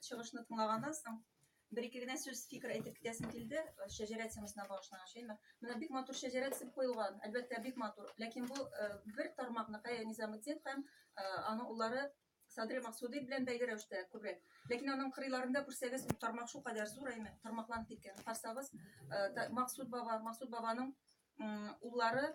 чыгышны тыңлаганнан соң бер ике генә сүз фикер әйтеп китәсем килде шәҗәрә темасына багышланган шәймә менә бик матур шәҗәрә төзеп куелган әлбәттә бик матур ләкин бу бер тармакны кая низаметдин һәм аның уллары садри максуди белән бәйле рәвештә күбрәк ләкин аның кырыйларында күрсәгез тармак шулкадәр зур әйме тармакланып киткән карсагыз максуд баба максуд бабаның уллары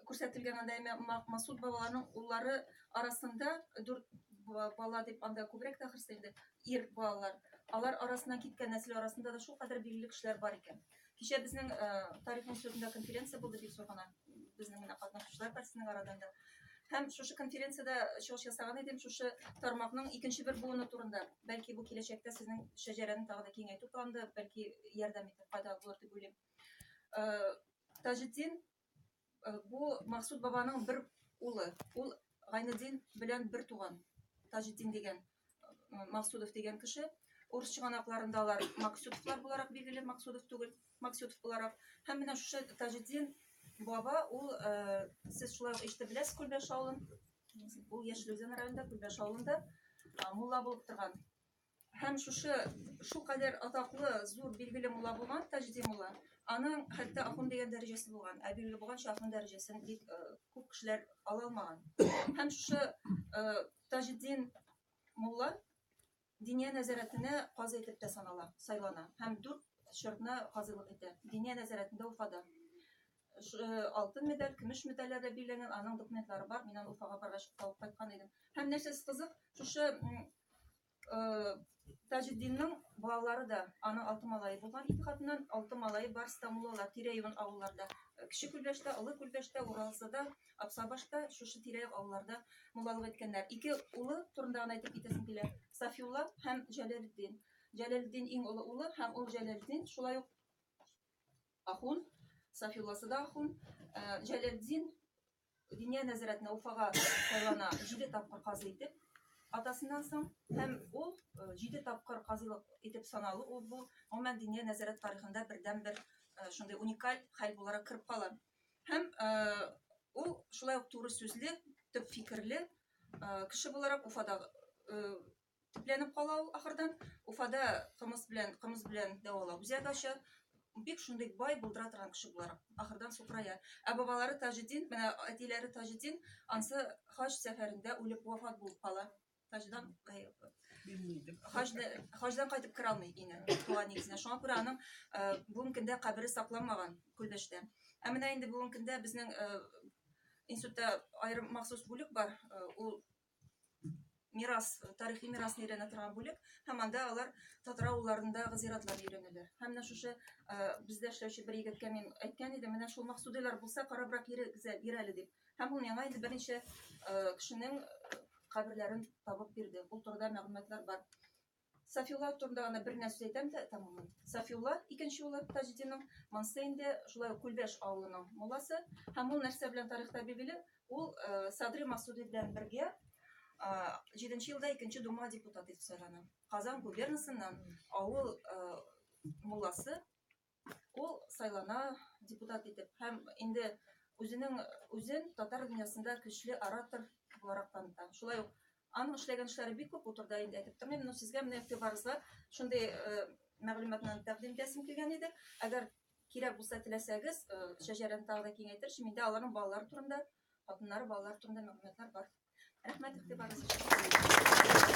күрсәтелгән анда әмма Ма- Масуд бабаларның уллары арасында дүрт ба- бала дип анда күбрәк тә ахрысы инде ир балалар. Алар арасыннан киткән нәсел арасында да шулкадәр билгеле кешеләр бар икән. Кичә безнең э, тарих институтында конференция булды бик зур гына безнең менә катнашучылар берсенең арадан да. Һәм шушы конференциядә чыгыш ясаган идем шушы тармакның икенче бер буыны турында. Бәлки бу киләчәктә сезнең шәҗәрәне тагы да киңәйтү планында бәлки ярдәм итеп файдалы булыр дип уйлыйм. Таҗетдин бу Максут бабаның бер улы. Ул Гайнеддин белән бер туган. Таҗетдин дигән Максудов дигән кеше. Урыс чыганакларында алар Максудовлар буларак билгеле, Максудов түгел, Максудов буларак. Һәм менә шушы Таҗетдин баба, ул сез шулай ук ишетеп беләсез Күлбәш авылын. Ул Яшел Үзән районында, Күлбәш авылында мулла булып торган. Һәм шушы шул кадәр атаклы, зур, билгеле мулла булган Таҗди мулла, аның хәтта ахун дигән дәрәҗәсе булган, ә билгеле булганча ахун дәрәҗәсен бик э, күп кешеләр ала алмаган. Һәм шушы э, Таҗдин мулла Диния нәзарәтенә казый итеп тә санала, сайлана һәм дүрт чорны казыйлык итә. Диния нәзарәтендә Уфада. Ш- э, алтын медаль, көмеш медальләргә билгеләнгән, аның документлары бар. Мин аны Уфага баргач алып кайткан идем. Һәм нәрсәсе кызык, шушы м, э, Таҗетдинның балалары да аның алты малае булган. Ике хатыннан алты малае бар Стамулалар, тирә-юнь авылларда. Э, Кече Күлбәштә, Олы Күлбәштә, Уралсыда, Апсабашта, шушы тирә-як авылларда муллалык иткәннәр. Ике улы турында гына әйтеп китәсем килә. Сафиулла һәм Җәләлетдин. Җәләлетдин иң олы улы һәм ул Җәләлетдин шулай ук Ахун, Сафиулласы да ахун. Җәләлетдин Диния нәзарәтенә Уфага сайлана җиде тапкыр казый итеп атасыннан соң һәм ул җиде тапкыр казыйлык итеп саналу ул бу гомумән диния нәзарәт тарихында бердән бер шундый уникаль хәл буларак кереп кала һәм ул шулай ук туры сүзле төп фикерле кеше буларак уфадагы төпләнеп кала ул ахырдан. Уфада кымыз белән, кымыз белән дәвалау үзәге ача. Бик шундый бай булдыра торган кеше буларак ахырдан сукырая. Ә бабалары Таҗетдин, менә әтиләре Таҗетдин, ансы хаҗ сәфәрендә үлеп вафат булып кала. Хаҗдан хаҗдан кайтып керә алмый ине туган нигезенә. Шуңа күрә аның бүгенге көндә кабере сакланмаган Күлдәштә. Ә менә инде бүгенге көндә безнең институтта аерым махсус бүлек бар. Ул мирас, тарихи мирасны өйрәнә торган бүлек, һәм анда алар татар авылларындагы зиратлар өйрәнәләр. Һәм менә шушы бездә эшләүче бер егеткә мин әйткән идем, менә шул максудыйлар булса, карабрак бир әле дип. Һәм ул миңа инде берничә кешенең каберләрен табып бирде. Ул турыда мәгълүматлар бар. Сафиулла турында гына бер нәрсә әйтәм дә тәмамлыйм. Сафиулла, икенче улы Таҗетдинның, Мансый инде шулай ук Күлбәш авылының мулласы. Һәм ул нәрсә белән тарихта билгеле, ул Садри Масуди белән бергә җиденче елда икенче дума депутаты итеп сайлана. Казан губернасыннан авыл мулласы Ул сайлана депутат итеп һәм инде үзенең үзен татар дөньясында көчле оратор буларак таныта. Шулай ук аның эшләгән эшләре бик күп утырда инде әйтеп тормыйм, но сезгә менә игътибарыгызга шундый э, мәгълүматны тәкъдим итәсем килгән иде. Әгәр кирәк булса теләсәгез, э, шәҗәрәне тагы да киңәйтер, миндә аларның балалары турында, хатыннары, балалары турында мәгълүматлар бар. Рәхмәт игътибарыгыз өчен.